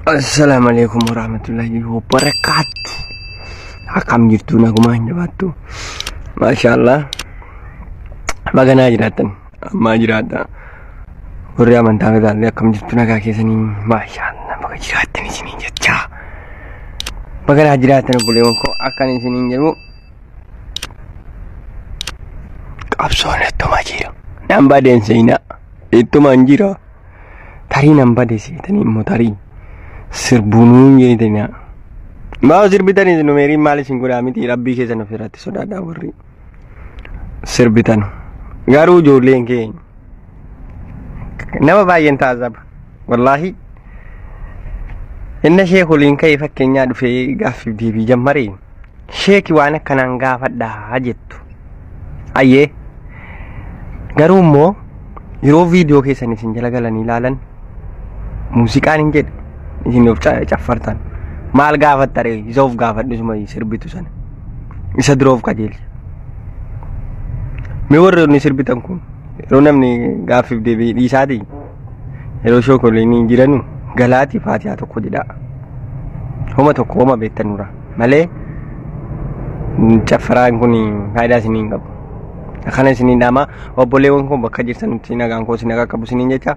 Assalamu alaikum warahmatullahi wabarakatuh. Akkam jirtu nagumaa hin jabaattu. Maashaallah. Baganaa jiraattan. Ammaa jiraadha. Warri amantaa fedhaallee akkam jirtu nagaa keessanii maashaallah baga jiraattan isiniin jechaa. Baganaa jiraattan obboleewwan koo akkan isiniin jedhu qabsoon ittuma jira. Nambaa deemseenaa ittuma hin jira. tarii nan bade seetanii immoo tarii sirbuu nuun jeetanii maa sirbitanii isin meeriin maal isin godhaa miti rabbii keessan of irratti sodaadhaa warri sirbitan garuu ijoolleen keenya nama baay'een taasisa wallaahi inna ishee koliin ka'ee fakkeenyaa dhufee gaaffiif deebii jammaree sheeki waan akkanaan gaafadhaa jettu. Ayyee garuu immoo yeroo viidiyoo keessan isin jala galanii ilaalan muuziqaan hin jedhe isin of ca- caffartan maal gaafatta ree isa of gaafadhu isuma sirbitu sana isa dura of qajeelcha. Mee warri inni sirbitan kun yeroo namni gaaffiif deebi'ee dhiisaatii yeroo shookoliin jiranu galaati faatiyaa tokko jedhaa homa tokko homa beektan dura malee caffaraan kun faayidaa isinii hin qabu akkana isinii dhaamaa obboleewwan kun bakka jirtanitti nagaan koo isin akka qabu isiniin jecha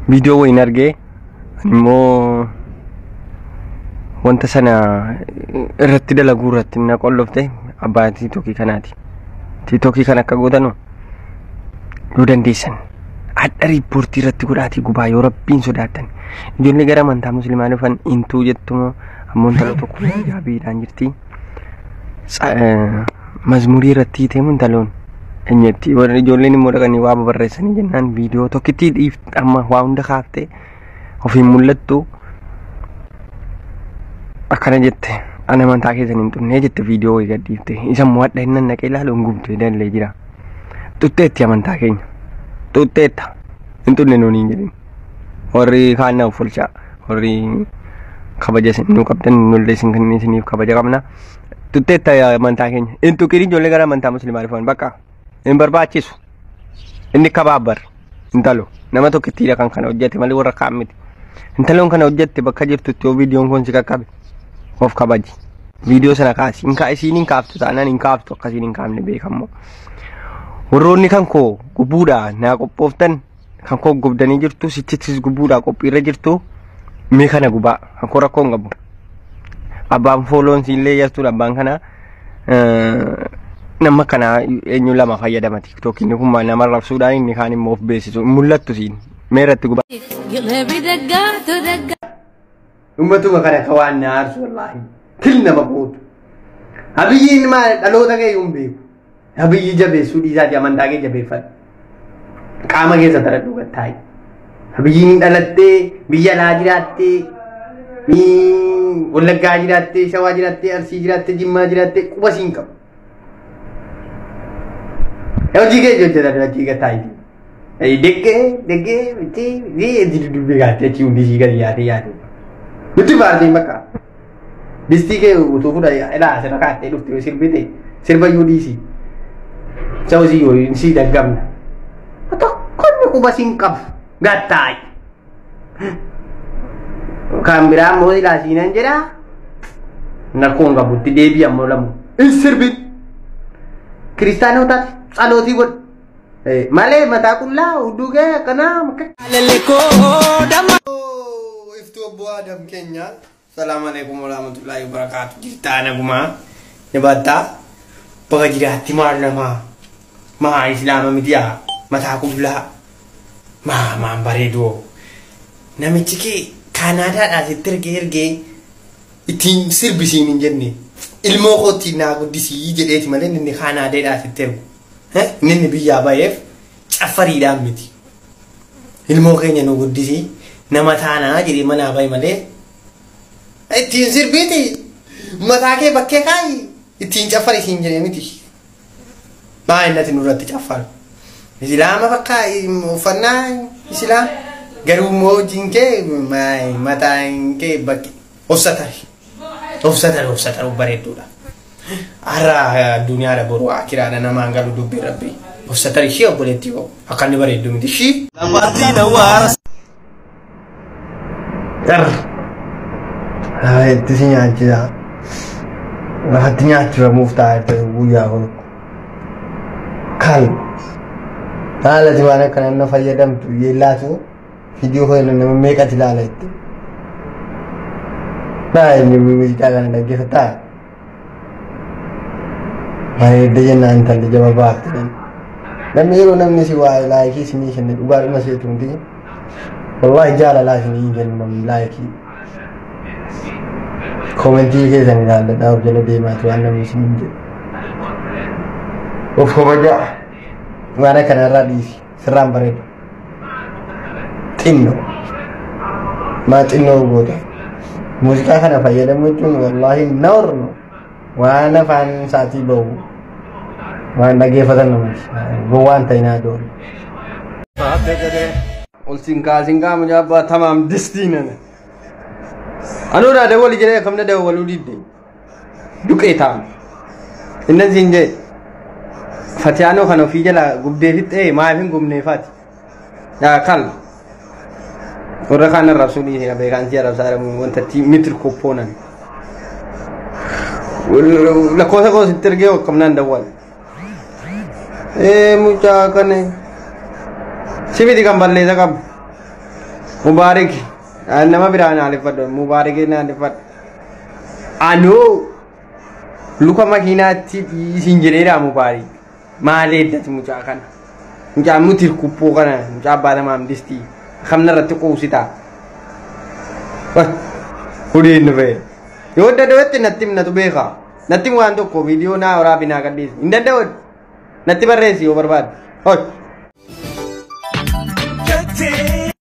viidiyoo wayiin argee immoo wanta sana irratti dalaguu irratti na qollofte abbaa tiitokii kanaati. Tiitokii kan akka gootanu yoo dandeessan hadha riippoortii irratti godhaatii gubaa yoo rabbiin sodaatan ijoollee gara amantaa muslimaa dhufan intuu jettumoo ammoo intala tokko jaabiidhaan jirti. mazmurii irratti hiiteemu intaloon enyetti warri ijoolleen immoo dhaqanii waa babarreessanii jennaan viidiyoo tokkittii dhiifte amma waa hunda kaaftee ofiin mul'attu akkana jette ana amantaa keessan hin xunnee jette viidiyoo wayii gadhiifte isa immoo hadha hinnan naqee ilaalu hin gubdee dallee jira xuxxeetti amantaa keenya xuxxeetta hin xunne nuun hin jedhin warri kaan na offolchaa warri kabaja isin nu qabdan nullee isin kan isiniif kabaja qabna tutteetta yaa amantaa keenya hin tuqin ijoollee gara amantaa muslimaa dhufan bakka hin barbaachisu inni kabaabbar intalo nama tokkittiidha kan kana hojjete malee warra kaan miti intaloon kana hojjette bakka jirtutti yoo viidiyoon kun si qaqqabe of kabaji viidiyoo sana kaasi hin kaa isiin hin kaaftu taanaan hin kaaftu akkasiin hin kaafne beekammoo warroonni kan koo gubbuudhaa naa qophooftan kan koo gubdanii jirtu sichittis gubuudhaa qophiirra jirtu mee kana gubaa kan koo rakkoo hin qabu abbaan fooloon siillee yastuudha abbaan kana nama kana eenyu lama fayyadama tiktookiin kun nama rabsuudhaan inni kaan immoo of beeksisu mul'attu siin mee irratti gubaa. Gilebidagga, todagga. Ummatuma kana ka waan na aarsu wallaahi. Til nama gootu. Abiyyiin maal dhaloota kee hin beeku. Abiyyi jabeessuu dhiisaati amantaa kee jabeeffadhu. Qaama keessa taradhu gattaayi. Abiyyiin dhalattee biyya laa jiraattee wallaggaa jiraattee shawaa jiraattee arsii jiraattee jimmaa jiraattee quba siin qabu. Hojii kee hojjetan hojii gataa itti. Deggee deggee itti ni itti dudubbii gaatti achi hundi ishii gadi yaatee yaatee. Nutti faartiin bakka. Distii kee utuu fuudha ilaa asirra kaattee dhufte yoo sirbite sirba iyyuu dhiisi. Isa hojii yoo si daggamna. Tokkonni quba siin qabu gattaayi. Kan biraa immoo silaa siinan jedha. Nakkoon qabutti deebii ammoo lamu. Hin sirbin. Kiristaanootaaf tsalootii godhu. Eh, Malee mataa qullaa hudduu kee akkanaa makka. Aleleko dama. Iftuu obbo Adam keenya Salaamu alaikum warahmatullahi wabarakatuh. Jirtaa nagumaa ni battaa baga jiraatti maal namaa maa islaama midiyaa mataa qullaa maa maan bareedoo namichi kee kaanaadaadhaa sitti ergee ergee ittiin sirbisiin hin jenne ilmoo kootti naa guddisii jedheeti malee inni kaanaadeedhaa sitti ergu Eh, inni inni biyyaa baheef Caffariidhaan miti. Ilmoo keenya nu guddisii nama taanaa jedhee manaa bahi malee ittiin sirbiiti mataa kee bakkee kaa'i ittiin caffari siin jedhee miti. Baay'inatti nurratti caffaru. Islaama bakka uffannaa islaam garuu immoo hojiin kee mataan kee bakkee. Obsatari. Obsatari obsataru bareedduudha. Har'a addunyaadha boru akiraadha namaan galu dubbii rabbi. Obsatari ishee obboleettii koo akka inni bareeddu miti ishii. Itti si nyaachisa. Lafatti nyaachifamuuf taa'etti guyyaa kun. Kan haalati waan akkanaan na fayyadamtu yeellaatu. Viidiyoo kana nama meeqatti ilaala jettee. Baay'ee muuziqaa kana dhaggeeffataa. Bareedda jennaan intalli jaba baafte. Namni yeroo namni si waa laayikii si ni kenna dhugaadhuma seetu hundi. Wallaahi jaalalaa si ni kenna namni laayikii. Koomentii keessan ilaalladhaa of jala deemaatu waan namni si ni jedhu. Of kabajaa. Waan akkanarraa dhiisi. Sirraan bareeda. Xinno. Maa xinnoo goota. Muuziqaa kana fayyadamu jechuun wallaahi noorma. Waan afaan isaatii bahu. Waan dhaggeeffatan namatti. Gowwaan ta'inaa doole. Ol sinkaa sinkaa mucaa tamaam distii nana. Anuu naa dawwali jedhee kamna dawwaluu didde. duqee taa'an innan siin jee fatiyaanoo kan ofii jala gubdee fixxee maaf hin gubnee fati yaa kal warra kaan arrabsuu dhiise qabee kaan si arrabsaa jedhamu wanta itti mitir koppoonan lakkoofsa koo sitti ergee waqqabnaan dawwal ee mucaa kana sifiti kan balleessa qabu mubaarik nama biraan haaleffadhu mubaarikiin haaleffadhu Anoo luka makiinaatti isin jedheera mubaarii. Maal eeddati mucaa kana? Mucaa nuti kubboo kana mucaa abbaa lamaa hamdisti. Kamna irratti quubsita. Hudiin nu ba'e. Yoo adda dabatte natti himnatu beeka. Natti him waan tokko viidiyoo naa waraabi naa gadhiisi. Hin danda'u. Natti barreessi yoo barbaadde. Hoy.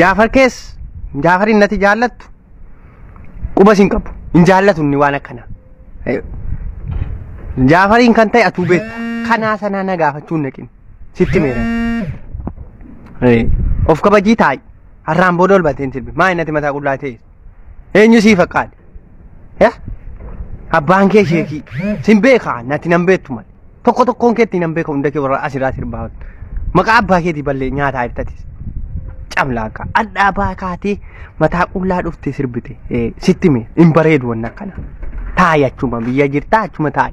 Jaafar kees Jaafar innati jaallattu qubas hin qabu hin jaallatu inni waan akkana. Jaafariin kan ta'e atuu beekta kanaa sanaa na gaafachuu hin dhaqin sitti meera. Of kabajii taa'i har'aan booda ol bateen sirbi maa innati mataa qullaa ta'e. Eenyu sii fakkaate? Eh? Abbaan kee sheekii. Sin beekaa natti nan beektu malee. Tokko tokkoon keetti nan beeka hunda kee warra asirraa sirbaa. Maqaa abbaa keetii ballee nyaataa ibtatis. Camlaaqaa. Adhaa baa kaatee mataa qullaa dhuftee sirbite. Eh, Sitti mee hin bareedu wanna akkana. Taa'i achuma biyya jirtaa achuma taa'i.